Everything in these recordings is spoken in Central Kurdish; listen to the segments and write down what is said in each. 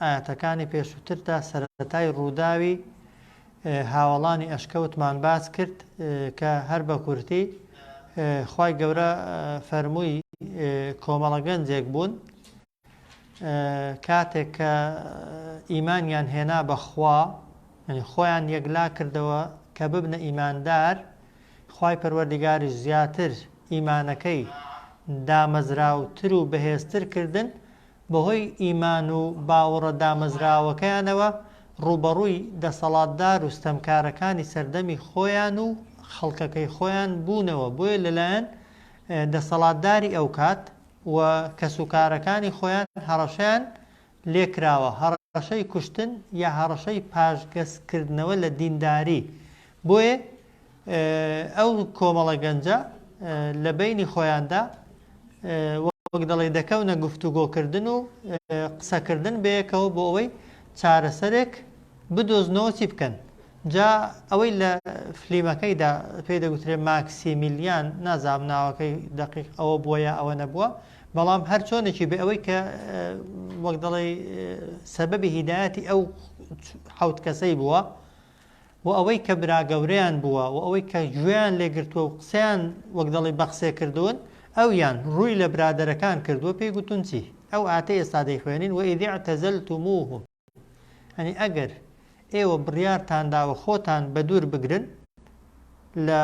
ئایەتەکانی پێشووتردا سەرەتای ڕووداوی هاوڵانی ئەشکەوتمان باس کرد کە هەر بە کورتی خی گەورە فەرمووی کۆمەڵە گەنجێک بوون کاتێک کە ئیمانیان هێنا بەخوا خۆیان یەکلا کردەوە کە ببنە ئیماندار خی پەروەردیگاری زیاتر ئیمانەکەی دامەزراوتر و بەهێزتر کردن بەهۆی ئیمان و باوەڕە دامەزراوەکەیانەوە ڕووبەڕووی دەسەڵاتدار و ستەمکارەکانی سەردەمی خۆیان و خەڵکەکەی خۆیان بوونەوە بۆیە لەلایەن دەسەڵاتداری ئەوکات و کەسوکارەکانی خۆیان هەڕەشەیان لێکراوە هەڕەشەی کوشتن یا هەڕەشەی پاشگەزکردنەوە لە دینداری بۆیە ئەو کۆمەڵە گەنجە لە بەینی خۆیاندا وەک دەڵێی دەکەونە گفتوگۆکردن و قسەکردن بەیەکەوە بۆ ئەوەی چارەسەرێک بدۆزنەوە چی بکەن جا ئەوەی لە فلیمەکەیدا پێی دەگوترێ ماکسیمیلیان نازام ناوەکەی دقیق ئەوە بووە یا ئەوە نەبووە بەڵام هەر چۆنێکی بێ ئەوەی کە وەک دەڵێ سەبەبی هیدایەتی ئەو حوت کەسەی بووە و ئەوەی کە براگەورەیان بووە و ئەوەی کە گوێیان لێ گرتووە و قسەیان وەک دەڵێی بە قسێ کردوون، ئەویان، ڕووی لە برادەرەکان کردووە، پێی گوتوون چی؟ ئەو ئاتەی ئێستا دەیخوێنین، وەئیذ اعتزلتموهم، یانی ئەگەر ئێوە بڕیارتان داوە خۆتان بە دوور بگرن لە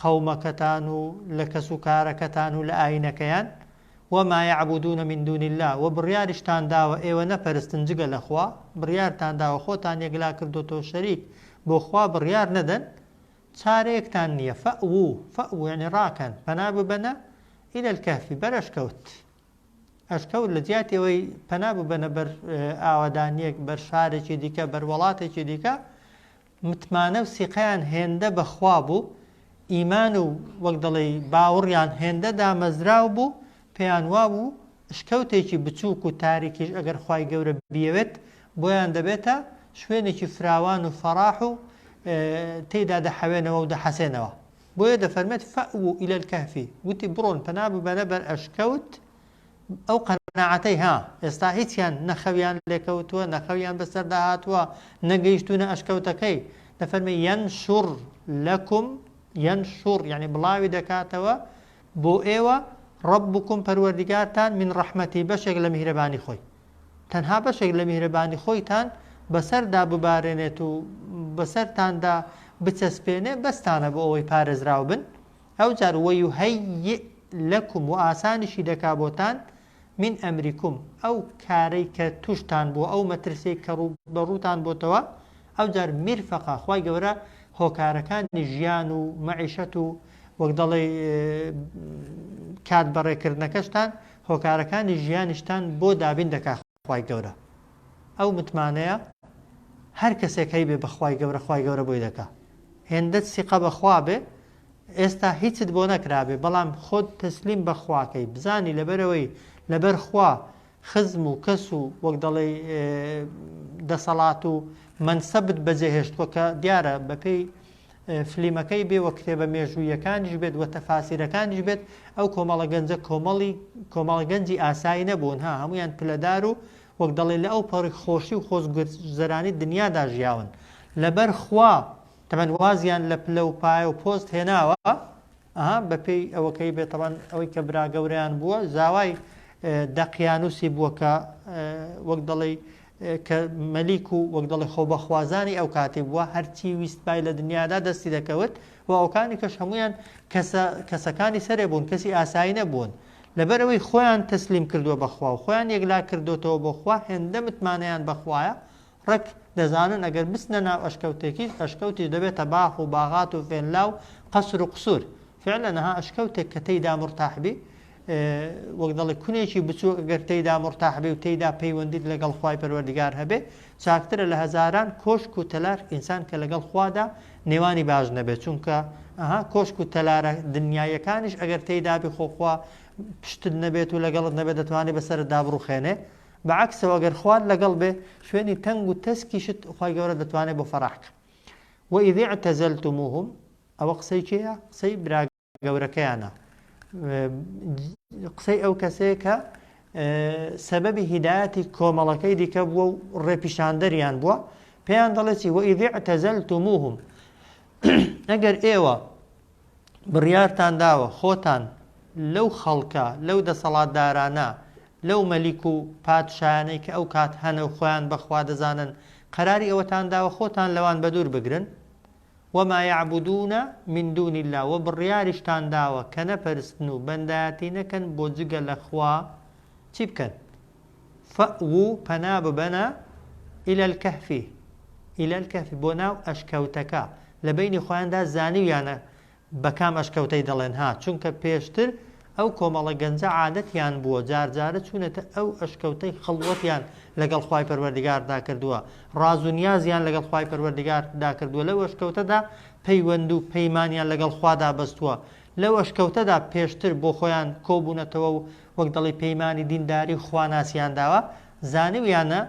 قەومەکەتان و لە کەس و کارەکەتان و لە ئایینەکەیان، وما یعبدون من دون اللە، وە بڕیاریشتان داوە ئێوە نەپەرستن جگە لە خوا، بڕیارتان داوە خۆتان یەکلا کردۆتەوە شەریک بۆ خوا بڕیار نەدەن، چارەیەکتان نییە، فەئوو، فەئوو یەعنی ڕاکەن، پەنا ببەنە، الی الکهف، بەر ئەشکەوت، ئەشکەوت لە جیاتی ئەوەی پەنا ببەنە بەر ئاوەدانییەک، بەر شارێکی دیکە، بەر وەڵاتێکی دیکە، متمانە و سیقەیان هێندە بە خوا بوو، ئیمان و وەک دەڵێی باوڕیان هێندە دامەزراو بوو، پێیان وا بوو شکەوتێکی بچووک و تاریکیش ئەگەر خوای گەورە بیەوێت بۆیان دەبێتە شوێنێکی فراوان و فەڕاح و تێیدا دەحەوێنەوە و دەحەسێنەوە. بۆیە دەفەرمێت، فئوو الی الکهف، گوتی بڕۆن پەنا ببەنە بەر ئەشکەوت، ئەو قەناعەتەی ها ئێستا هیچیان نە خەویان لێکەوتووە نە خەویان بەسەردا هاتووە نە گەیشتوونە ئەشکەوتەکەی دەفەرمێ یەنشوڕ لەکم یەنشوڕ یەعنی بڵاوی دەکاتەوە بۆ ئێوە ڕەبوکم پەروەردیگارتان من ڕەحمەتی بەشێک لە میهرەبانی خۆی تەنها بەشێک لە میهرەبانی خۆیتان بەسەردا ببارێنێت و بەسەرتاندا بچەسپێنێ بەستانە بۆ ئەوەی پارێزراو بن ئەوجار ویهیئ لەکم و ئاسانیشی دەکا بۆتان من ئەمریکم ئەو کارەی کە توشتان بووە ئەو مەترسیەی کە ڕوو بەڕووتان بۆتەوە ئەوجار میرفەقە خوای گەورە هۆکارەکانی ژیان و مەعیشەت و وەک دەڵێ کات بەڕێکردنەکەشتان هۆکارەکانی ژیانیشتان بۆ دابین دەکا خوای گەورە ئەو متمانەیە هەر کەسێک هەیبێ بە خوای گەورە خوای گەورە بۆی دەکا هێندەت سیقە بەخوا بێ ئێستا هیچت بۆ نەکرابێ بەڵام خۆت تەسلیم بەخواکەی بزانی لەبەرەوەی لەبەر خوا خزم و کەس و وەک دەڵێ دەسەڵات و منسەبت بەجێهێشتوە کە دیارە بەپێی فلیمەکەی بێ وە کتێبە مێژووییەکانیش بێت وە تەفاسیرەکانیش بێت ئەو کۆمەڵە گەنجە کۆمەڵی کۆمەڵە گەنجی ئاسایی نەبوون ها هەمویان پلەدار و وەک دەڵێ لە ئەو پەڕی خۆشی و خۆزگەزەرانی دنیادا ژیاون لەبەر خوا تەبەن وازیان لە پلە و پایە و پۆست هێناوە ئەها بەپێی ئەوەکەی بێت تەبەن ئەوەی کە براگەوریان بووە زاوای دەقیانوسی بووە کە وەک دەڵێ کە مەلیک و وەک دەڵێ خۆبەخوازانی ئەو کاتی بووە هەرچی ویستبای لە دنیادا دەستی دەکەوت و ئەوکانی کەش هەمویان کەسە کەسەکانی سەرێ بوون کەسی ئاسایی نەبوون لەبەرەوەی خۆیان تەسلیم کردووە بەخوا و خۆیان یەکلا کردۆتەوە بۆ خوا هێندە متمانەیان بەخوایە ڕەک دەزانن ئەگەر بچنە ناو ئەشکەوتێکیش ئەشکەوتیش دەبێتە باخ و باغات و ڤێللا و قەسر و قسور فعلەن ها ئەشکەوتێک کە تێیدا مورتاح بی وەک دەڵێ کونێکی بچوو ئەگەر تێیدا مورتاح بێ و تێیدا پەیوەندیت لەگەڵ خوای پەروەردگار هەبێ چاکترە لە هەزاران کۆشک و تەلار ئینسان کە لەگەڵ خوادا نێوانی باش نەبێت چونکە ئەها کۆشک و تەلارە دنیایەکانیش ئەگەر تێیدا بێ خۆخوا پشتت نەبێت و لەگەڵت نەبێت دەتوانێت بەسەرت دابڕوخێنێ بەعکسەوە گەر خوارد لەگەڵ بێ شوێنی تەنگ و تەسکیشت خی گەورە دەتوانێت بۆ فەراحکە وئیدی تەزەلتموهم ئەوە قسەی کێیە قسەی برا گەورەکەیانە قسەی ئەو کەسەیە کە سەبەبی هیدایەتی کۆمەڵەکەی دیکە بووە و ڕێپیشاندەریان بووە پێیان دەڵێتی وەئیدیع تەزەل توموهم ئەگەر ئێوە بڕیارتان داوە خۆتان لەو خەڵکە لەو دەسەڵاتدارانە لەو مەلیک و پادشایانەی کە ئەو کات هەنە و خۆیان بەخوا دەزانن قەراری ئەوەتان داوە خۆتان لەوان بەدوور بگرن وما یعبدون من دون اللە، وە بڕیاریشتان داوە کە نەپەرستن و بەندایەتی نەکەن بۆ جگە لە خوا چی بکەن؟ فەئوو پەنا ببەنە الی الکهف الی الکهف بۆ ناو ئەشکەوتەکە لە بەینی خۆیاندا زانیویانە بە کام ئەشکەوتەی دەڵێن ها، چونکە پێشتر ئەو کۆمەڵە گەنجە عادەتیان بووە جار جارە چوونەتە ئەو ئەشکەوتەی خەڵوەتیان لەگەڵ خوای پەروەردگاردا کردووە، ڕاز و نیازیان لەگەڵ خوای پەروەردگاردا کردووە لەو ئەشکەوتەدا پەیوەند و پەیمانیان لەگەڵ خوادا بەستووە لەو ئەشکەوتەدا پێشتر بۆ خۆیان کۆبوونەتەوە و وەک دەڵێی پەیمانی دینداری و خواناسیان داوە زانیویانە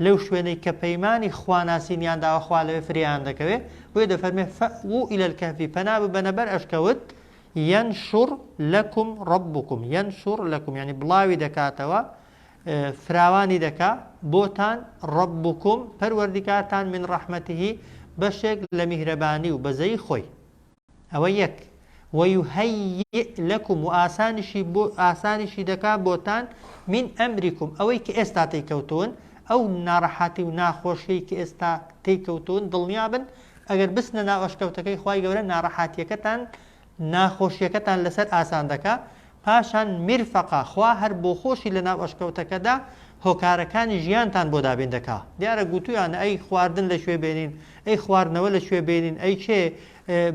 لەو شوێنەی کە پەیمانی خواناسینیان داوە خوا لەوێ فرێیان دەکەوێ، بۆیە دەفەرمێ، فئوو الی الکهف، پەنا ببەنە بەر ئەشکەوت، ینشر لکم ربکم، ینشر لکم، یانی بڵاوی دەکاتەوە، فراوانی دەکا، بۆتان، ربکم، پەروەردیگارتان، من رحمته، بەشێک لە میهرەبانی و بەزەیی خۆی. ئەوە یەک، ویهەیئ لەکم و ئاسانیشی بۆ ئاسانیشی دەکات بۆتان، من ئەمریکم ئەوەی کە ئێستا تێیکەوتوون، ئەو ناڕەحەتی و ناخۆشیەی کە ئێستا تێیکەوتوون دڵنیابن ئەگەر بچنە ناو ئەشکەوتەکەی خوای گەورە ناڕەحاتیەکەتان ناخۆشیەکەتان لەسەر ئاسان دەکات پاشان میرفەقە خوا هەر بۆخۆشی لە ناو ئەشکەوتەکەدا هۆکارەکانی ژیانتان بۆ دابین دەکا دیارە گوتویانە ئەی خواردن لە کوێ بێنین ئەی خواردنەوە لە کوێ بێنین ئەی کێ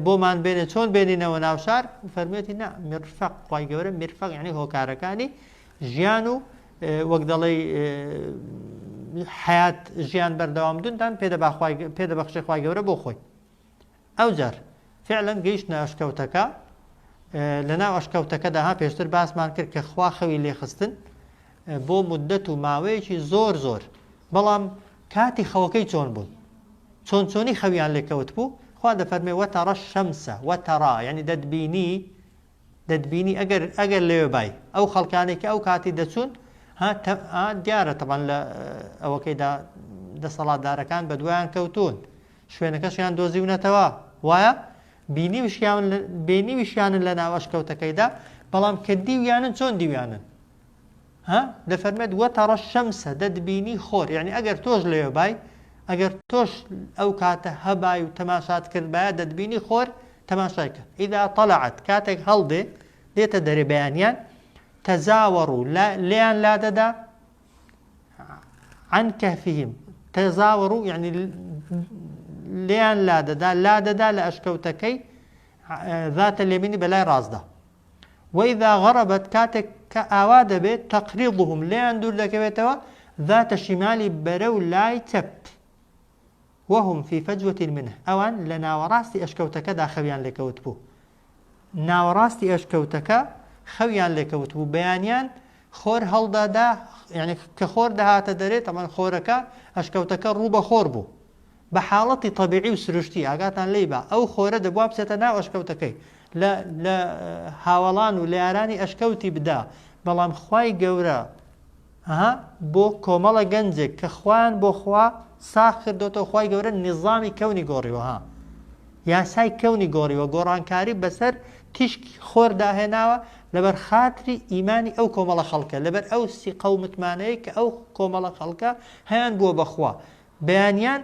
بۆمان بێنێ چۆن بێنینەوە ناو شار فەرمێتی نا میرفەق خوای گەورە میرفەق یعنی هۆکارەکانی ژیان و وەک دەڵێ حیات ژیان بەردەوام دونتان پێدە پێدە بەخشی خوای گەورە بۆ خۆی ئەوجار فعلا گەیشتنە ئەشکەوتەکە، لەناو ئەشکەوتەکەدا ها پێشتر باسمان کرد کە خوا خەوی لێخستن بۆ مدەت و ماوەیەکی زۆر زۆر بەڵام کاتی خەوەکەی چۆن بوون چۆن چۆنی خەویان لێکەوت بوو خوا دەفەرمێ وەتەڕە شەمسە وەتەڕا یعنی دەتبینی دەتبینی ئەگەر ئەگەر لەوێ بای ئەو خەڵکانێک کە ئەو کاتی دەچوون دیارە تەبان لە ئەوەکەیدا دەسەڵاتدارەکان بە دوایان کەوتون شوێنەکەشیان دۆزیونەتەوە، وایە؟ بینیوشیان بینیوشیانن لە ناو ئەشکەوتەکەیدا، بەڵام کە دیویانن چۆن دیویانن؟ ها؟ دەفەرمێت وەتەڕە شەمسە دەتبینی خۆر، یعنی ئەگەر تۆش لەوێ بای، ئەگەر تۆش ئەو کاتە هەبای و تەماشات کردبایە دەتبینی خۆر تەماشای کرد. ئیدا طلعت کاتێک هەڵدێ دێتە دەرێ بەیانیان تەزاوەڕ و لێیان لادەدا عن كهفهم قێزاوەڕوو یعنی لێیان لادەدا لادەدا لە ئەشکەوتەکەی ذاتە لێمینی بەلای ڕاستدا وەیدا غەڕەبەت کاتێک کە ئاوا دەبێت تەقریبهم لێیان دوور دەکەوێتەوە ذاتە شیمالی بەرە و لای چەپ وهم فی فەجوەتی منە ئەوان لە ناوەڕاستی ئەشکەوتەکەدا خەویان لێکەوت بوو ناوەڕاستی ئەشکەوتەکە خەویان لێکەوتبوو بەیانیان خۆر هەڵدادا یعنی کە خۆر دەهاتە دەرێت ئەمەن خۆرەکە ئەشکەوتەکە ڕوو بە خۆر بوو بە حاڵەتی طببیعی و سروشتی ئاگاتان لی بە ئەو خۆرە دەبوا بچێتە ناو ئەشکەوتەکەی لە هاوەڵان و لە یارانی ئەشکەوتی بدا بەڵام خی گەورە هه بۆ کۆمەڵە گەنجێک کە خۆیان بۆ خوا ساغ کردۆتەوە خوای گەورە نیزامی کەونی گۆڕیوە ها یاسای کەونی گۆڕیوە گۆڕانکاری بەسەر تیشکی خۆر داهێناوە لەبەر خاتری ئیمانی ئەو کۆمەڵە خەڵکە لەبەر ئەو سیقە و متمانەیە کە ئەو کۆمەڵە خەڵکە هەیان بووە بەخوا بەیانیان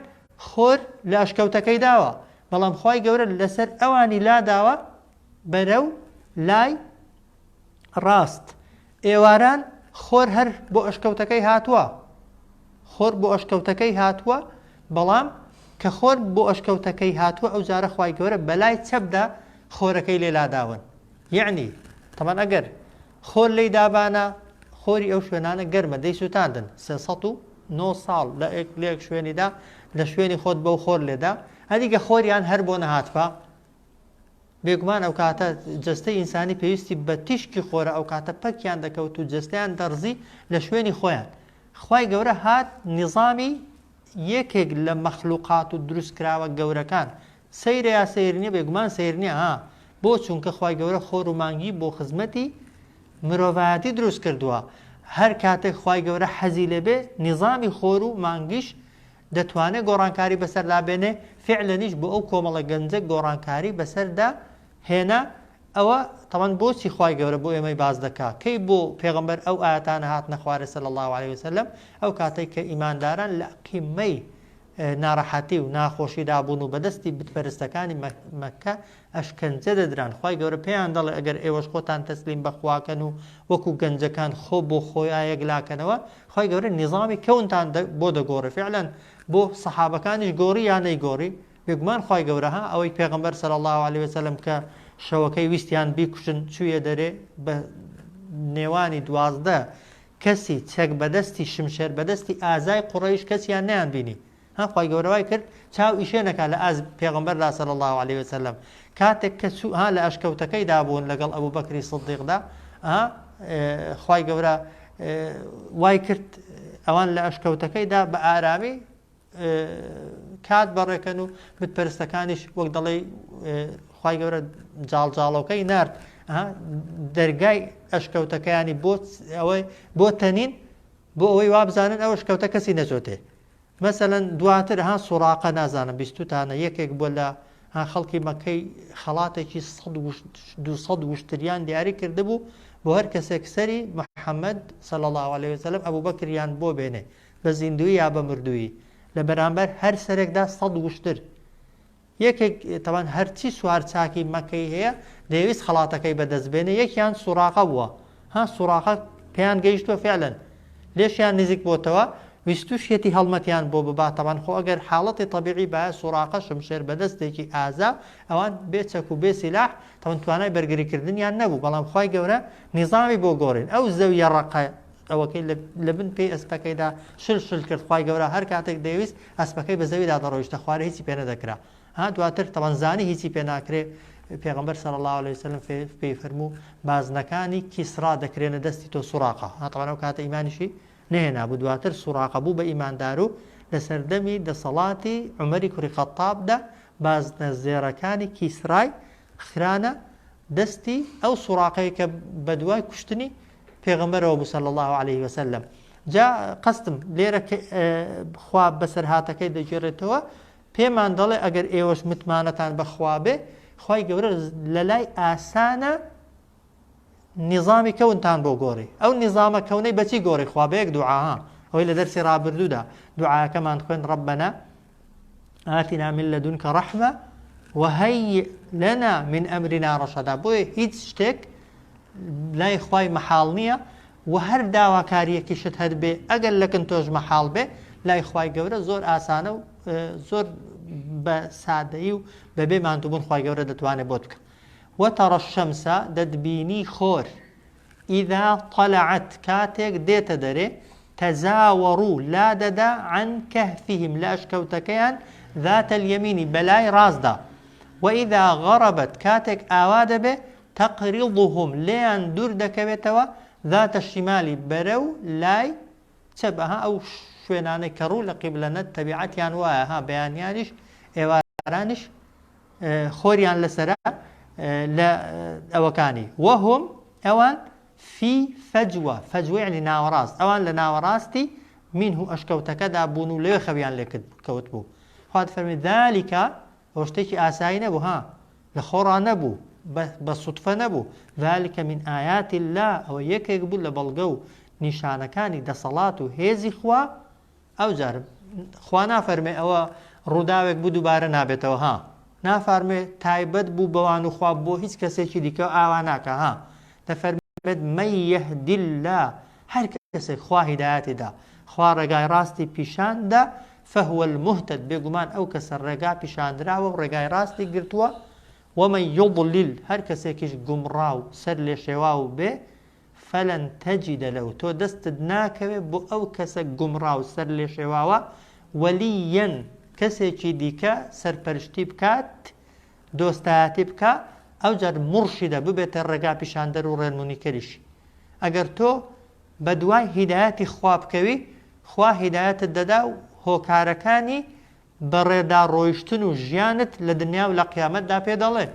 خۆر لە ئەشکەوتەکەی داوە بەڵام خوای گەورە لەسەر ئەوانی لاداوە بەرەو لای ڕاست. ئێواران خۆر هەر بۆ ئەشکەوتەکەی هاتووە. خۆر بۆ ئەشکەوتەکەی هاتووە، بەڵام کە خۆر بۆ ئەشکەوتەکەی هاتووە ئەو جارە خوای گەورە بەلای چەپدا خۆرەکەی لێ لاداون. یعنی تەمان ئەگەر خۆر لی دابانە خۆری ئەو شوێنانە گەرمە دەی سووتاندن سێ سەد و نۆ ساڵ لە ئێک لێک شوێنیدا لە شوێنی خۆت بەو خۆر لێدا هەریگە خۆریان هەر بۆ نەهاتفا بێگومان ئەوکاتە جەستەی ئینسانی پێویستی بە تیشکی خۆرە ئەوکاتە پەکیان دەکەوت و جەستەیان دەڕزی لە شوێنی خۆیان خوای گەورە هات نیظامی یەکێک لە مەخلوقات و دروستکراوە گەورەکان سەیرە یا سەیرنیە بێگومان سەیرنیە ها بۆ چونکە خوای گەورە خۆر و مانگی بۆ خزمەتی مرۆڤایەتی دروست کردووە هەر کاتێک خوای گەورە حەزی لێبێ نیظامی خۆر و مانگیش دەتوانێ گۆڕانکاری بەسەردا بێنێ، فیعلەنیش بۆ ئەو کۆمەڵە گەنجە گۆڕانکاری بەسەردا هێنا، ئەوە تەبعەن بۆچی خوای گەورە بۆ ئێمەی باس دەکا، کەی بۆ پێغەمبەر ئەو ئایەتانە هاتنە خوارێ صلی اللە علیە وسلم، ئەو کاتەی کە ئیمانداران لە قمەی نارەحەتی و ناخۆشیدا بوون و بەدەستی بتپەرستەکانی مەککە ئەشکەنجە دەدران خوای گەورە پێیان دەڵێ ئەگەر ئێوەش خۆتان تەسلیم بە خواکەن و وەکو گەنجەکان خۆ بۆ خۆیا یەکلاکەنەوە خوای گەورە نیزامی کەونتان بۆ دەگۆڕێ فعلا بۆ سەحابەکانیش گۆڕی یا نەیگۆڕی بێگومان خوای گەورە ها ئەوەی پێغمبەر سەر الله عليه وسلم کە شەوەکەی ویستیان بیکوشن چویە دەرێ بە نێوانی دوازدە کەسی چەک بەدەستی شمشێر بەدەستی ئازای قوڕەیش کەسیان نیان بینی ها خوای گەورە وای کرد چاو ئیشێ نەکا لە ئاست پێغەمبەر دا صلی اللە علیە وسلم کاتێک کە چوو ها لە ئەشکەوتەکەی دا بوون لەگەڵ ئەبو بەکری صدیق دا ها خوای گەورە وای کرد ئەوان لە ئەشکەوتەکەی دا بە ئارامی کات بەڕێکەن و بتپەرستەکانیش وەک دەڵێ خی گەورە جاڵجاڵۆکەی نرد دەرگای ئەشکەوتەکەیانی بۆ ئەوەی بۆ تەنین بۆ ئەوەی وابزانن ئەوە شکەوتە کەسی نەچۆتێ مەسەلەن دواتر ها سوڕاقە نازانم بیستوتانە یەکێک بووە لە ها خەڵکی مەکەی خەڵاتێکی سەد وشت دوو سەد وشتریان دیاری کردبوو بۆ هەر کەسێک سەری محەممەد صلی الله عليه وسلم ئەبوو بەکریان بۆ بێنێ بە زیندوی یا بە مردوویی لە بەرامبەر هەر سەرێکدا سەد وشتر یەکێک تەبەن هەرچی سوار چاکی مەکەی هەیە دەیەویست خەڵاتەکەی بەدەست بێنێ یەکیان سوراقە بووە ها سوراقە پێیان گەیشتوە فعلەن لێشیان نزیک بۆتەوە ویستوشیەتی هەڵمەتیان بۆ ببات تەبان خۆ ئەگەر حاڵەتی طبیعی باە سوراقە شمشێر بەدەستێکی ئازا ئەوان بێ چەک و بێ سیلاح تەبەن توانای بەرگریکردنیان نەبوو بەڵام خی گەورە نیزامی بۆ گۆڕین ئەو زەویە ڕقە ئەوەکەی لە بن پێی ئەسپەکەیدا شل شل کرد خی گەورە هەر کاتێک دەویست ئەسپەکەی بە زەویدا دەڕۆیشتە خوارێ هیچی پێ نەدەکرا ها دواتر تەبەن زانی هیچی پێ ناکرێ پێغەمبەر صلی اللە علیە وسلم پێی فەرموو بازنەکانی کیسڕا دەکرێنە دەستی تۆ سوڕاقە ها تەبەن ئەو کاتە ئیمانیشی نەهێنا بوو دواتر سوڕاقە بوو بە ئیماندار و لە سەردەمی دەسەڵاتی عومەری کوڕی خەتابدا بازنە زێڕەکانی کیسرای خرانە دەستی ئەو سوڕاقەی کە بەدوای کوشتنی پێغەمبەرەوە بوو صلی الله علیه وسلم جا قەستم لێرە خوا بەسەرهاتەکەی دەگێڕێتەوە پێمان دەڵێ ئەگەر ئێوەش متمانەتان بەخوابێ خی گەورە لە لای ئاسانە نیظامی کەونتان بۆ گۆڕی ئەو نیظامە کەونەی بەچی گۆڕی خوابەیەک دوعاها ئەوەی لە دەرسی ڕابردوودا دوعاەکەمان خوێن ڕبەنە ئاتینا من لە دونکە ڕەحمە وهەی لەنا من ئەمری ناڕەشەدا بۆیە هیچ شتێک لای خی مەحاڵ نییە و هەر داواکاریەکی شت هەر بێ ئەگەر لەکن تۆش مەحاڵ بێ لای خی گەورە زۆر ئاسانە و زۆر بە سادەیی و بەبێ ماندووبوون خی گەورە دەتوانێت بۆت بکە وەتەڕە شەمسە دەتبینی خۆر اذا طلعت کاتێک دێتە دەرێ تزاورو لادەدا عن کهفهم لە ئەشکەوتەکەیان ذات اليمین بەلای ڕاستدا واذا غربت کاتێک ئاوا دەبێ تقرضهم لێیان دوور دەکەوێتەوە ذات الشمال بەرەو لای چەپ ئەها ئەو شوێنانەی کە ڕوو لە قیبلەنە تەبیعەتیان وایە ها بەیانیانیش ئێوارانیش خۆریان لەسەرە لە ئەوەکانی وەهم ئەوان فی فەجوە فەجوێنی ناوەڕاست ئەوان لە ناوەڕاستی من و ئەشکەوتەکەدا بوون و لێ خەویان لێ کەوت بوو خوات فەرمی دالیکە ئەو شتێکی ئاسایی نەبوو ها لە خۆڕا نەبوو بە سوتفە نەبوو ذلكکە من ئاياتی لا ئەوە یەکێک بوو لە بەڵگە و نیشانەکانی دەسەڵات و هێزی خوا ئەوجار خوا نافەرمێ ئەوە ڕووداوێک بوو دووبارە نابێتەوە ها نافارمێ تایبەت بوو بەوان و خواب بۆ هیچ کەسێکی دیکە ئاوا ناکە ها دەفەرمێت مەیەهدیلا هەر کەسێک خوا هیدایەتیدا خوا ڕێگای ڕاستی پیشاندا فهوە المهتد بێگومان ئەو کەسە ڕێگا پیشاندراوە و ڕێگای ڕاستی گرتووە ومە یوبلیل هەر کەسێکیش گومڕا و سەر لێ شێوا و بێ فلن تجد لە تۆ دەستت ناکەوێت بۆ ئەو کەسە گومڕا و سەرلێشێواوە وەلییا کەسێکی دیکە سەرپەرشتی بکات دۆستایەتی بکا ئەوجار مڕشیدە ببێتە ڕێگا پیشاندەر و ڕێنمونیکەریشی ئەگەر تۆ بە دوای هیدایەتی خوا بکەوی خوا هیدایەتت دەدا و هۆکارەکانی بەڕێدا ڕۆیشتن و ژیانت لە دنیا و لە قیامەتدا پێ دەڵێ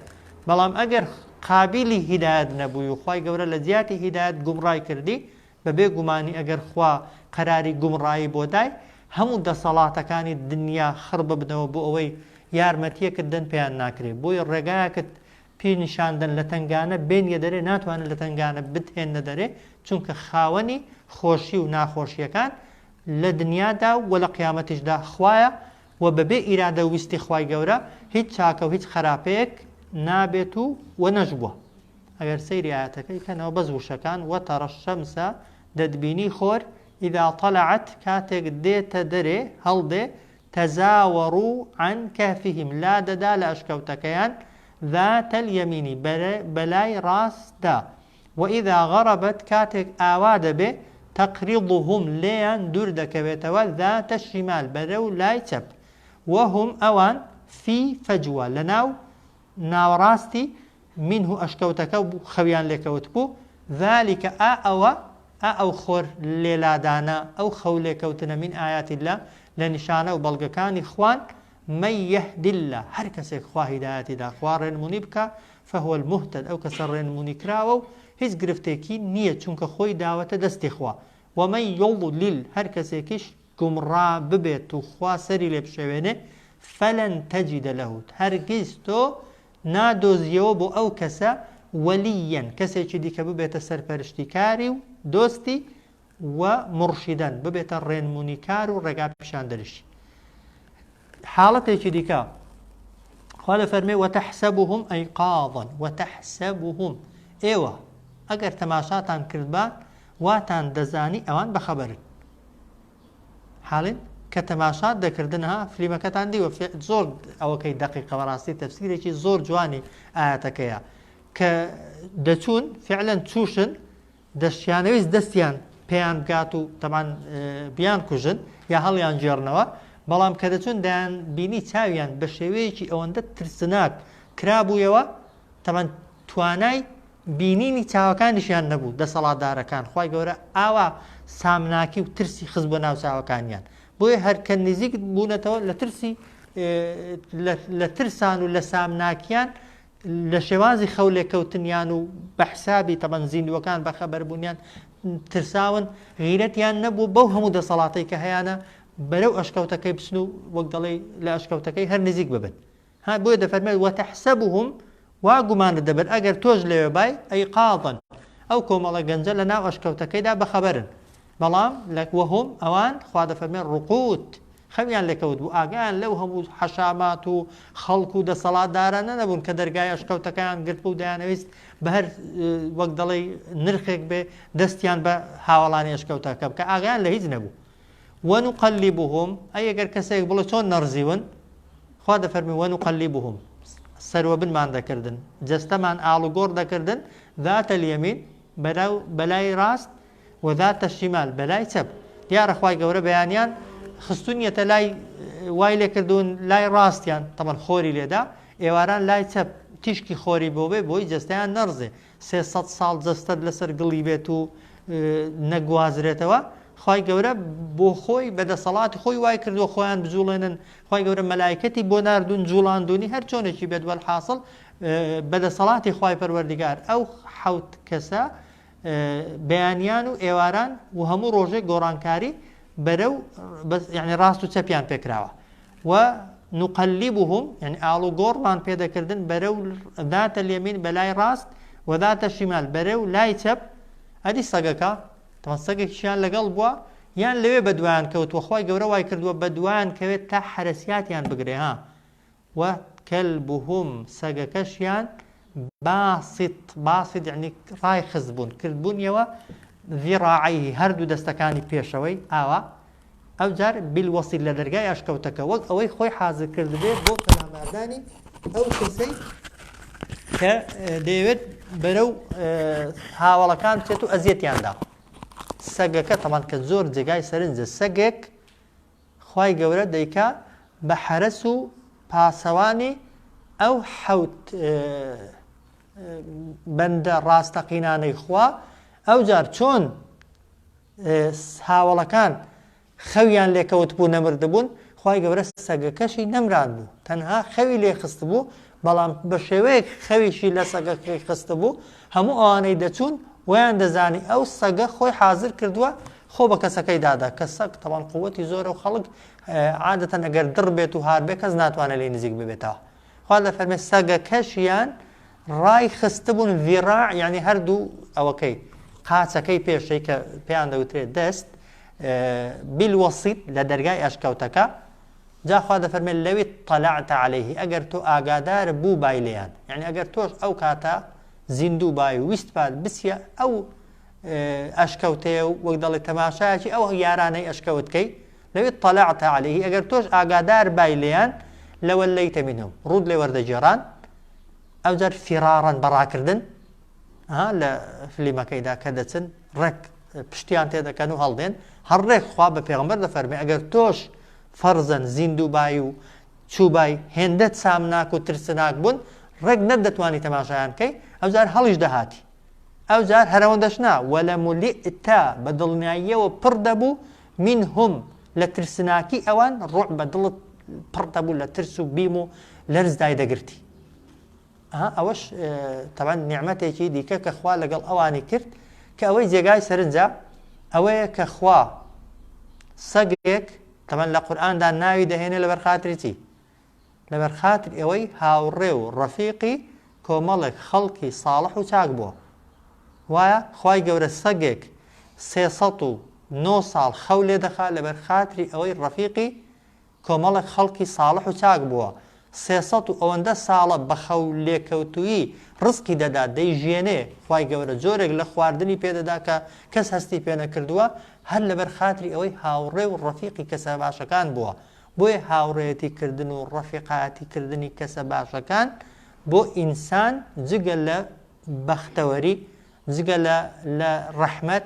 بەڵام ئەگەر قابیلی هیدایەت نەبووی و خوای گەورە لە جیاتی هیدایەت گومڕای کردی بە بێ گومانی ئەگەر خوا قەراری گومڕایی بۆ دای هەموو دەسەڵاتەکانی دنیا خڕ ببنەوە بۆ ئەوەی یارمەتیەکت دەن پێیان ناکرێ بۆیە ڕێگایەکت پێ نیشان دەن لە تەنگانە بێنیە دەرێ ناتوانن لە تەنگانە بتهێنە دەرێ چونکە خاوەنی خۆشی و ناخۆشیەکان لە دنیادا و لە قیامەتیشدا خوایە و بەبێ ئیرادە و ویستی خوای گەورە هیچ چاکە و هیچ خەراپەیەک نابێت و و نەشبووە ئەگەر سەیری ئایەتەکەی کەنەوە بەس وشەکان و تەڕە شەمسە دەتبینی خۆر ئیدا تەلەعەت کاتێک دێتە دەرێ هەڵدێ تەزاوەڕو عەن کەهفیهم لا دەدا لە ئەشکەوتەکەیان ذاتەل یەمینی بەلای ڕاستدا وإذا غربت کاتێک ئاوا دەبێ تقرضهم لێیان دوور دەکەوێتەوە ذات الشمال بەرەو لای چەپ وهم ئەوان في فجوە لەناو ناوەڕاستی منه ئەشکەوتەکە خەویان لێکەوتبوو ذلک ئا ئەوە ئا ئەو خۆر لێلادانە ئەو خەو لێکەوتنە من آیات اللە لە نیشانە و بەڵگەکانی خوان من یهد اللە، هەر کەسێک خوا هیدایەتی دا، خوا ڕێنمونی بکا، فهو المهتد، ئەو کەسە ڕێنمونی کراوە و هیچ گرفتێکی نییە چونکە خۆی داوەتە دەستی خوا، ومن یضلل، هەر کەسێکیش گومڕا ببێت و خوا سەری لێ بشێوێنێ، فلن تجد له، هەرگیز تۆ نادۆزیەوە بۆ ئەو کەسە، ولییا، کەسێکی دیکە ببێتە سەرپەرشتیکاری و دۆستی، و موڕشیدەن ببێتە ڕێنمونیکار و ڕێگا پیشاندەریش حاڵەتێکی دیکە خوا لە فەرمێ وەتەحسەبوهم ئەیقاضن وەتەحسەبوهم ئێوە ئەگەر تەماشاتان کردبا واتان دەزانی ئەوان بەخەبەرن حاڵن کە تەماشات دەکردن ها فلیمەکەتان دیوە زۆر ئەوەکەی دقیقە بەڕاستی تەفسیرێکی زۆر جوانی ئاەتەکەیە کە دەچوون فعلەن چوشن دەشیانەویست دەستیان پێیان بگات و تەمان بیان کوژن یا هەڵیان گێڕنەوە بەڵام کە دەچون دەیان بینی چاویان بە شێوەیەکی ئەوەندە ترسناک کرابوویەوە تەمان توانای بینینی چاوەکانیشیان نەبوو دەسەڵاتدارەکان خی گەورە ئاوا سامناکی و ترسی خز بۆ ناو چاوەکانیان بۆیە هەرکە نزیک بوونەتەوە لە ترسی لە ترسان و لە سامناکیان لە شێوازی خەولێکەوتنیان و بە حسابی تەبەن زیندووەکان بەخەبەربوونیان ترساون غیرەتیان نەبوو بەو هەموو دەسەڵاتەی کە هەیەە بەرەو ئەشکەوتەکەی بچن و وەک دەڵێ لە ئەشکەوتەکەی هەر نزیک ببن ها بۆیە دەفەرمێت وەتەحسە بووهم وا گومانە دەبن ئەگەر تۆش لەوێ بای ئەی قاڵن ئەو کۆمەڵە گەنجە لە ناو ئەشکەوتەکەیدا بەخەبەرن بەڵام لە، وهم، ئەوان، خوا دەفەرمێ، رقود، خەویان لێکەوت بوو، ئاگایان لەو هەموو حەشامات و خەڵک و دەسەڵاتدارانە نەبوون کە دەرگای ئەشکەوتەکەیان گرتبوو دەیانەویست بە هەر وەک دەڵێی نرخێک بێ دەستیان بە هاوەڵانی ئەشکەوتەکە بکە، ئاگایان لە هیچ نەبوو. ونقلبهم، ئەی ئەگەر کەسێک بڵێ چۆن نەڕزیون؟ خوا دەفەرمێ، ونقلبهم، سەروەبنمان دەکردن، جەستەمان ئاڵوگۆڕ دەکردن، ذات الیمین، بەلای راست، وزارت الشمال بەلای چەپ دیارە خوای گەورە بەیانیان خستونیەتە لای وای لێکردون لای ڕاستیان تەبەن خۆری لێدا ئێواران لای چەپ تیشکی خۆری بۆ بێ بۆی جەستەیان نەڕزێ سێسەد ساڵ جەستەت لەسەر گڵی بێت و نەگوازرێتەوە خی گەورە بۆ خۆی بە دەسەڵاتی خۆی وای کردووە خۆیان بجوڵێنن خی گەورە مەلایکەتی بۆ نردون جوڵاندونی هەر چۆنێکی بێت وەل حاصل بە دەسەڵاتی خی پەروەردگار ئەو حوت کەسە بەیانیان و ئێواران و هەموو ڕۆژێک گۆڕانکاری بەرە و یعنی ڕاست و چەپیان پێکراوە و نقلی بووهم یعنی ئاڵ و گۆڕمان پێدەکردن بەرە و داتە لێمین بەلای ڕاست وەداتە شیمال بەرە و لای چەپ ئەدی سەگەکە تەسەگەکیشیان لەگەڵ بووە یان لەوێ بەدوایان کەوتوە خی گەورە وای کردووە بەدوایان کەوێت تا حرەسیاتیان بگرێ ها و کلبهم سەگەکەشیان باسط باسط یعنی ڕای خستبوون کردبوونیەوە ذراعیه هەردوو دەستەکانی پێشەوەی ئاوا ئەوجار بالوصل لە دەرگای ئەشکەوتەکە وەک ئەوەی خۆی حازر کردبێت بۆ پەلاماردانی ئەو کەسەی کە دەیەوێت بەرە و هاوڵەکان بچێت و ئەزیەتیاندا سەگەکە تەمان کە زۆر جێگای سەرنجە سەگێک خوای گەورە دەیکا بە حەرەس و پاسەوانی ئەو حەوت بەندە ڕاستەقینانەی خوا ئەوجار چۆن هاوڵەکان خەویان لێکەوت بوو نەمردبوون خی گەورە سەگەکەشی نەمران بوو تەنها خەوی لێخست بوو بەڵام بە شێوەیەک خەویشی لە سەگەکەی خستبوو، هەموو ئەوانەی دەچوون وایان دەزانی ئەو سەگە خۆی حازر کردووە خۆ بە کەسەکەی دادا، کە سەگ تەبان قووتی زۆرە و خەڵک عادەتەن ئەگەر دڕ بێت و هار بێت کەس ناتوانێت لێی نزیک ببێتەوە. خوا دەفەرمێت سەگەکەشیان ڕای خستبوون ذراع یعنی هەردوو ئەوەکەی قاچەکەی پێشەی کە پێیان دەوترێت دەست بالوسیط لە دەرگای ئەشکەوتەکە جا خوا دەفەرمێت لو اطلعت علیه ئەگەر تۆ ئاگادار بووبای لێیان یەعنی ئەگەر تۆش ئەو کاتە زیندوو بای و ویستبات بچیە ئەو ئەشکەوتەیە و وەک دەڵێت تەماشایەکی ئەو یارانەی ئەشکەوت کەی لو اطلعت علیه ئەگەر تۆش ئاگادار بای لێیان لەوەلەیتە منهم ڕوود لێ وەردەگێڕان ئەوجار فیراڕەن بەڕاکردن ها لە فلیمەکەیدا کە دەچن ڕێک پشتیان تێدەکەن و هەڵدێن هەر ڕێک خوا بە پێغمبەر دەفەرمێ ئەگەر تۆش فەرزەن زیندووبای و چوبای هێندە سامناک و ترسناک بوون ڕێک نەت دەتوانی تەماشایان کەی ئەوجار هەڵیش دەهاتی ئەوجار هەرەوە دەشنا وەلە ملیئتا بە دڵنیاییەوە پڕ دەبوو من هم لە ترسناکی ئەوان ڕوع بە دڵت پڕ دەبوو لە ترس و بیم و لەرزدای دەگرتی ئەها ئەوەش تەبعەن نیعمەتێکی دیکە کە خوا لەگەڵ ئەوانی کرد کە ئەوەی جێگای سەرنجە ئەوەیە کە خوا سەگێک تەمەن لە قورآاندا ناوی دەهێنێ لەبەر خاتریی لەبەر خاتر ئەوەی هاوڕێ و ڕەفیقی کۆمەڵێک خەڵکی ساڵح و چاک بووە وایە خی گەورە سەگێک سێسە و نۆ ساڵ خەو لێ دەخا لەبەر خاتری ئەوەی ڕەفیقی کۆمەڵێک خەڵکی ساڵح و چاک بووە، سێ سەد و ئەوەندە ساڵە بە خەو لێکەوتوویی ڕزقی دەدات، دەیژیێنێ، خوای گەورە جۆرێک لە خواردنی پێ دەدا کە کەس هەستی پێ نەکردووە، هەر لەبەر خاتری ئەوەی هاوڕێ و ڕەفیقی کەسە باشەکان بووە، بۆیە هاوڕێیەتی کردن و ڕەفیقایەتی کردنی کەسە باشەکان بۆ ئینسان جگە لە بەختەوەری، جگە لە لە ڕەحمەت،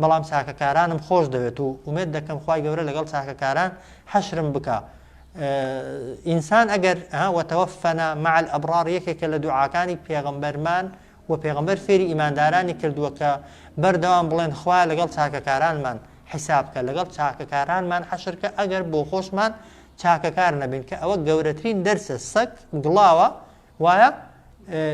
بەڵام چاکەکارانم خۆش دەوێت و ئومێد دەکەم خوای گەورە لەگەڵ چاکەکاران حەشرم بکا ئینسان ئەگەر وەتەوەفەنا مع الابرار یەکێکە لە دوعاکانی پێغەمبەرمان و پێغەمبەر فێری ئیماندارانی کردووە کە بەردەوام بڵێن خوایە لەگەڵ چاکەکارانمان حیساب کە لەگەڵ چاکەکارانمان حەشر کە ئەگەر بۆ خۆشمان چاکەکار نەبین کە ئەوە گەورەترین دەرسە سەگ گڵاوە وایە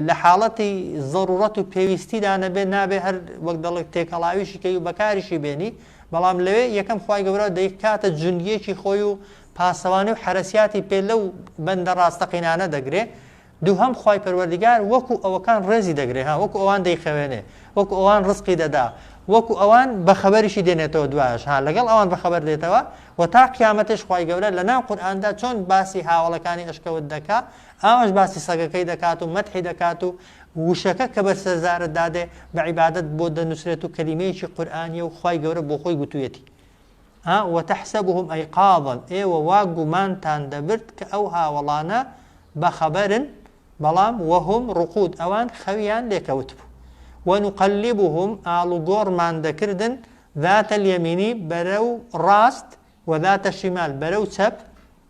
لە حاڵەتی زەروڕەت و پێویستیدا نەبێ نابێ هەر وەک دەڵێت تێکەڵاویشی کەی و بەکاریشی بێنی بەڵام لەوێ یەکەم خوای گەورە دەیکاتە جوندیەکی خۆی و پاسەوانی و حرەسیاتی پێ لەو بەندە ڕاستەقینانە دەگرێ دووهم خوای پەروەردگار وەکو ئەوەکان ڕێزی دەگرێ ها وەکو ئەوان دەیخەوێنێ وەکو ئەوان ڕزقی دەدا وەکو ئەوان بەخەبەریشی دێنێتەوە دوایش ها لەگەڵ ئەوان بەخەبەر دێتەوە و تا قیامەتش خوای گەورە لە ناو قورئاندا چۆن باسی هاوڵەکانی ئەشکەوت دەکا ئاواش باسی سەگەکەی دەکات و مەدحی دەکات و وشەکە کە بەر سەر زارت دادێ بە عیبادەت بۆت دەنووسرێت و کەلیمەیەکی قورئانیە و خوای گەورە بۆ خۆی گوتوویەتی ها وتحسبهم ایقاظا ئێوە وا گومانتان دەبرد کە ئەو هاوەڵانە بەخەبەرن بەڵام وهم رقود ئەوان خەویان لێکەوت بوو ونقلبهم ئاڵوگۆڕمان دەکردن ذات الیمینی بەرەو ڕاست وذات شیمال بەرەو چەپ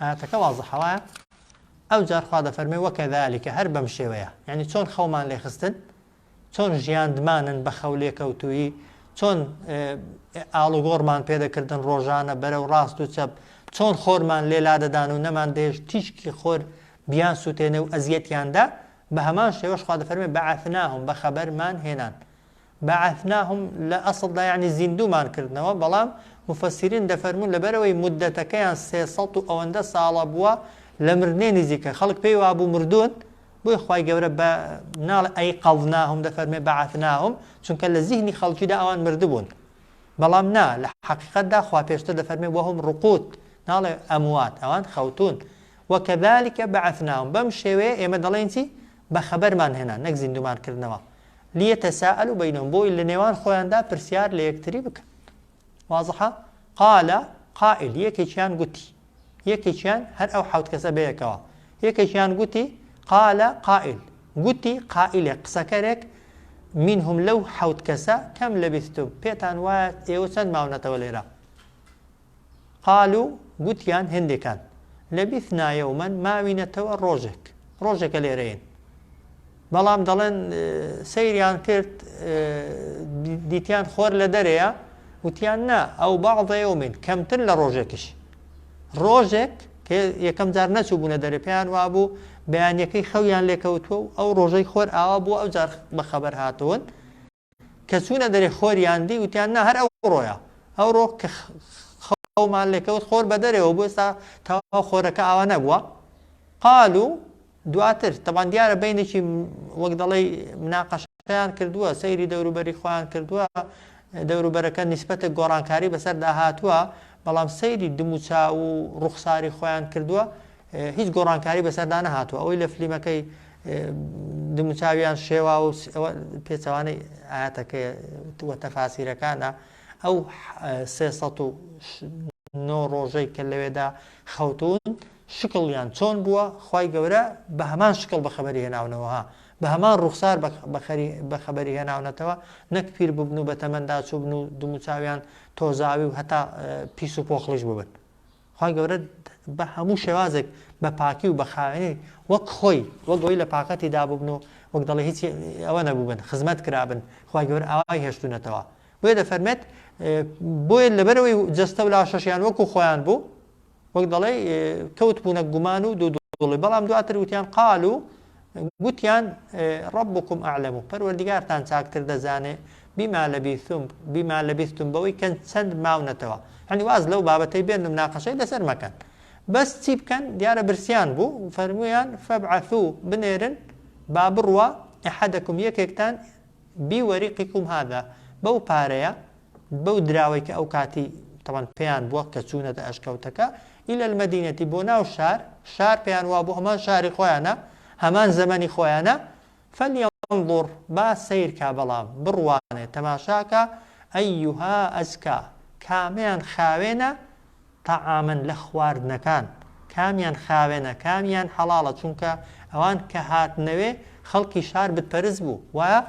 ئایەتەکە وازحە وایە ئەوجار خوا دەفەرمێ وەکەذالکە هەر بەم شێوەیە یعنی چۆن خەومان لێ خستن چۆن ژیاندمانن بە خەو لێکەوتوویی چۆن ئاڵوگۆڕمان پێدەکردن ڕۆژانە بەرەو ڕاست و چەپ چۆن خۆرمان لێ لادەدان و نەمان دێش تیشکی خۆر بیان سووتێنێ و ئەزیەتیاندا بە هەمان شێوەش خوا دەفەرمێ بەعثناهم بە خەبەرمان هێنان بعثناهم لە ئەسڵدا یەعنی زیندوومان کردنەوە بەڵام موفەسیرین دەفەرموون لەبەرئەوەی موددەتەکەیان سێ سەد و ئەوەندە ساڵە بووە لە مردنێ نیزیکە خەڵک پێی وابوو مردوون بۆی خوای گەورە بە ناڵێ ئەی قەضناهم دەفەرمێ بعثناهم چونکە لە زیهنی خەڵکیدا ئەوان مردبوون بەڵام نا لە حەقیقەتدا خوا پێشتر دەفەرمێ وەهم ڕقوت ناڵێ ئەموات ئەوان خەوتوون وەکەذالکە بعثناهم بەم شێوەیە ئێمە دەڵێین چی بەخەبەرمان هێنا نەک زیندوومان کردنەوە لیتساءلوا بینهم بۆی لەنێوان خۆیاندا پرسیار لە یەکتری بکەن واضحە قال قائل یەکێکیان گوتی یەکێکیان هەر ئەو حوت کەسە بەیەکەوە یەکێکیان گوتی قال قائل گوتی قائلێک قسەکەرێک منهم لەو حوت کەسە کەم لەبیستم پێتان وایە ئێوە چەند ماونەتەوە لێرە قالو، گوتیان هێندێکان لە بیثنایا و من ماوینەتەوە ڕۆژێک، ڕۆژێکە لێرەین. بەڵام دەڵێن سەیریان کرد دیتیان خۆر لە دەرەیە، وتیان نا ئەو بەعضە یەومین، کەمتر لە ڕۆژێکیش. ڕۆژێک کە یەکەم جار نەچووبوونە دەرێ پێیان وابوو بەیانییەکەی خەویان لێکەوتووە و ئەو ڕۆژەی خۆر ئاوا بووە ئەوجار بەخەبەر هاتوون، کە چوونە دەرێ خۆریان دی وتیان نە هەر ئەو ڕۆیە ئەو ڕۆ کە خەومان لێکەوت خۆر بە دەرەوە بۆ ئێستا تاوا خۆرەکە ئاوا نەبووە قال و دواتر تەبان دیارە بینێکی وەک دەڵی مناقەشیان کردووە سەیری دەوروبەری خۆیان کردووە دەوروبەرەکە نیسبەتە گۆڕانکاری بەسەر داهاتووە بەڵام سەیری دموچا و ڕوخساری خۆیان کردووە هیچ گۆڕانکاری بەسەردا نەهاتووە ئەوەی لە فلیمەکەی دموچاویان شێوا و پێچوانەی ئاەتەکە وە تەفاسیرەکانە ئەو سێ نۆ ڕۆژەی کە لەوێدا خەوتون شکڵیان چۆن بووە خی گەورە بە هەمان شکڵ بە خەبەری هێناونەوەها بە هەمان ڕوخسار بە خەبەری هێناونەتەوە نەک پیر ببن و بە تەمەندا چوبن و دموچاویان تۆزاوی و هەتا پیس و پۆخڵیش ببن خوای گەورە بە هەموو شێوازێک بە پاکی و بە خاوێنی وەک خۆی وەک ئەوەی لە پاکەتی دابووبن و وەک دەڵێ هیچ ئەوە نەبووبن خزمەت کرابن خوای گەورە ئاوای هێشتونەتەوە بۆیە دەفەرمێت بۆیە لەبەرەوەی جەستە و لاشەشیان وەکو خۆیان بوو وەک دەڵێ کەوت بوونە گومان و دوو دوڵی بەڵام دواتر وتیان قال و گوتیان، ربکم اعلم، پەروەردیگارتان چاکتر دەزانێ، بما لبثتم، بما لبثتم، بەوەی کە چەند ماونەتەوە. یەعنی واز لەو بابەتەی بێن و مناقەشەی لەسەر مەکەن. بەس چی بکەن؟ دیارە برسیان بوو، فەرموویان، فابعثوا، بنێرن، با بڕوا، احدکم، یەکێکتان، بی وریقکم هذا، بەو پارەیە بەو دراوەی کە ئەو کاتی تەبعەن پێیان بووە کە چوونەتە ئەشکەوتەکە، الی المدینە، بۆ ناو شار، شار پێیان وابوو هەمان شاری خۆیانە، هەمان زەمەنی خۆیانە، فلیەنظر، با سەیر کا بەڵام، بڕوانێ، تەماشا کا، ایها ازکی، کامەیان خاوێنە، طعاما لە خواردنەکان کامیان خاوێنە کامیان حەڵاڵە چونکە ئەوان کە هاتنەوێ خەڵکی شار بتپەرست بوو وایە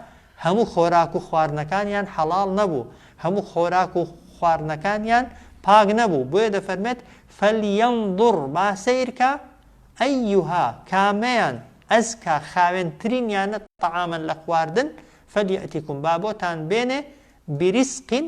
هەموو خۆراک و خواردنەکانیان حەڵاڵ نەبوو هەموو خۆراک و خواردنەکانیان پاک نەبوو بۆیە دەفەرمێت فلیەنظر با سەیرکا ئەیها کامەیان ئەزکا خاوێن ترینیانە طعاما لە خواردن فلیاتیکم با بۆتان بێنێ بریسقین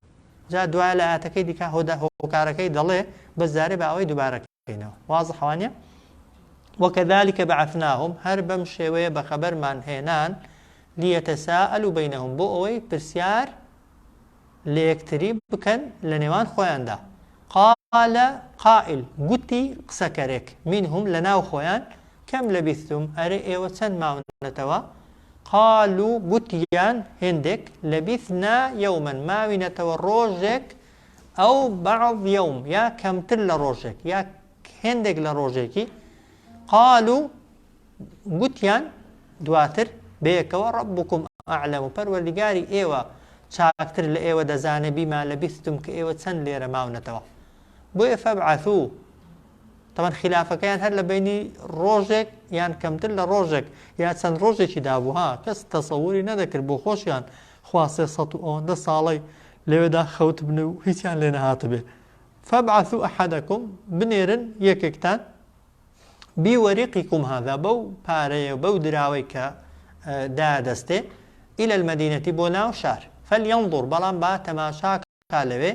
جا دوایە لە ئایەتەکەی دیکە هۆدا هۆکارەکەی دەڵێ بەس جارێ با ئەوەی دووبارە کەینەوە واضحە وانە وكذلك بعثناهم هەر بەم شێوەیە بە خەبەرمان هێنان لیەتەساءلوا بینهم بۆ ئەوەی پرسیار لە یەکتری بکەن لە نێوان خۆیاندا قال قائل گوتی قسەکەرێک منهم لە ناو خۆیان کەم لەبیستم ئەرێ ئێوە چەند ماونەتەوە قالو گوتیان هێندێک، لەبیثنا یەوما ماوینەتەوە ڕۆژێک، ئەو بعض یەوم یا کەمتر لە ڕۆژێک یا هێندێک لە ڕۆژێکی، قالو گوتیان دواتر بەیەکەوە ڕەببوکم ئەعلەم پەروەردگاری ئێوە چاکتر لە ئێوە دەزانێ بیما لەبیثتم کە ئێوە چەند لێرە ماونەتەوە بۆیە فەبعەثو تەبەن خیلافەکەیان هەر لە بینی ڕۆژێک یان کەمتر لە ڕۆژێک یا چەند ڕۆژێکی دابوو ها کەس تەسەوری نەدەکرد بۆ خۆشیان خوا سێ سەد و ئەوەندە ساڵەی لەوێدا خەوتبن و هیچیان لێ نەهاتبێ فەبعثو ئەحەدەکم بنێرن یەکێکتان بیوەریقیکم هادا بەو پارەیە بەو دراوەی کە دادەستێ ئیلە المەدینەتی بۆ ناو شار فەلیەنظر بەڵام با تەماشاکە تا لەوێ،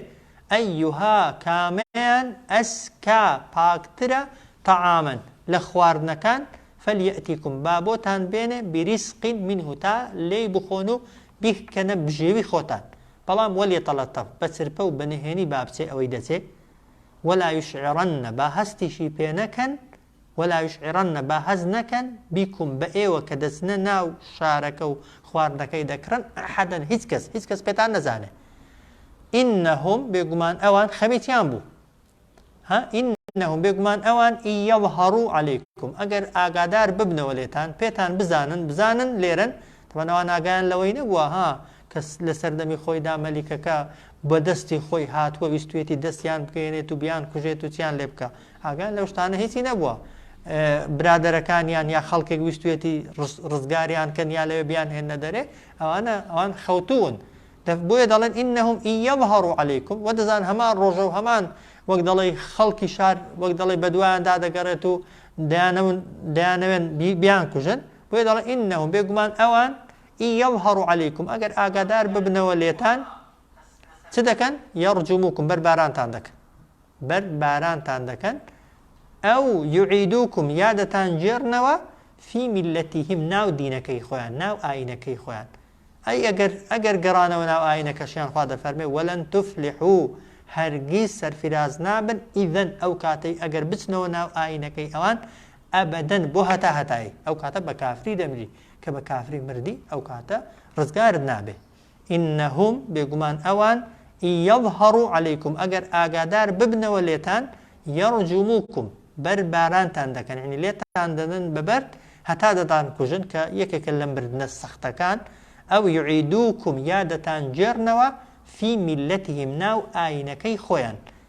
ایها کامەیان ئەزکا پاکترە طعاما لە خواردنەکان، فلیاتیکم با بۆتان بێنێ بریزق منه تا لێی بخۆن و بیکەنە بژێوی خۆتان، بەڵام ولیتلطف بە چرپە و بە نهێنی با بچێ ئەوەی دەچێ، ولا یشعرن با هەستیشی پێ نەکەن، وەلاویش ئێڕەننە با هەست نەکەن بیکوم بە ئێوە کە دەچنە ناو شارەکە و خواردنەکەی دەکڕن ئەحەدەن هیچ کەس هیچ کەس پێتان نەزانێ ئینەهوم بێگومان ئەوان خەمیتیان بوو ها ئین نەهم بێگومان ئەوان ئی یەڵهەڕوو عەلەیکم ئەگەر ئاگادار ببنەوە لێتان پێتان بزانن بزانن لێرەن تەمەنەوە ناگایان لەوەی نەبووە ها کە لە سەردەمی خۆیدا مەلیکەکە بە دەستی خۆی هاتووە ویستویەتی دەستیان بگەیەنێت و بیان کوژێت و چیان لێ بکە ئاگان لەو شتانە هیچی نەبووە برادەرەکانیان یا خەڵکێک ویستویەتی ڕزگاریان کەن یا لەوێ بیان هێنە دەرێ ئەوانە ئەوان خەوتون بۆیە دەڵێن ئینەهم ئیەڵهڕ و عەلیکم وە دەزان هەمان ڕۆژە و هەمان وەک دەڵێ خەڵکی شار وەک دەڵێ بەدوایان دادەگەڕێت و دەیانەون دەیانەوێن بیان کوژن بۆیە دەڵێ ئینەهم بێگومان ئەوان ئی یەظهەڕ عەلەیکم ئەگەر ئاگادار ببنەوە لێتان چ دەکەن یەڕجموکم بەر بارانتان دەکەن بەر بارانتان دەکەن ئەو یعیدوکم یا دەتان جێرنەوە فی میلەتیهم ناو دینەکەی خۆیان ناو ئاینەکەی خۆیان ئەی ئەگەر ئەگەر گەڕانەوە ناو ئاینەکەشیان خوا دەفەرمێ وەلەن تفلح و هەرگیز سەرفراز نابن ئیدەن ئەو کاتەی ئەگەر بچنەوە ناو ئاینەکەی ئەوان ئەبەدەن بۆ هەتا هەتایی ئەو کاتە بە کافری دەمری کە بە کافری مردی ئەو کاتە ڕزگارت نابێ ئینەهوم بێگومان ئەوان یەظهەڕو عەلەیکم ئەگەر ئاگادار ببنەوە لێتان یەڕجوموکم بەر بارانتان دەکەن یعنی لێتان دەدەن بە بەرد هەتا دەتان کوژن کە یەکێکە لە مردنە سەختەکان ئەو یعیدوکم یا دەتان گێڕنەوە فی میلەتیهم ناو ئاینەکەی خۆیان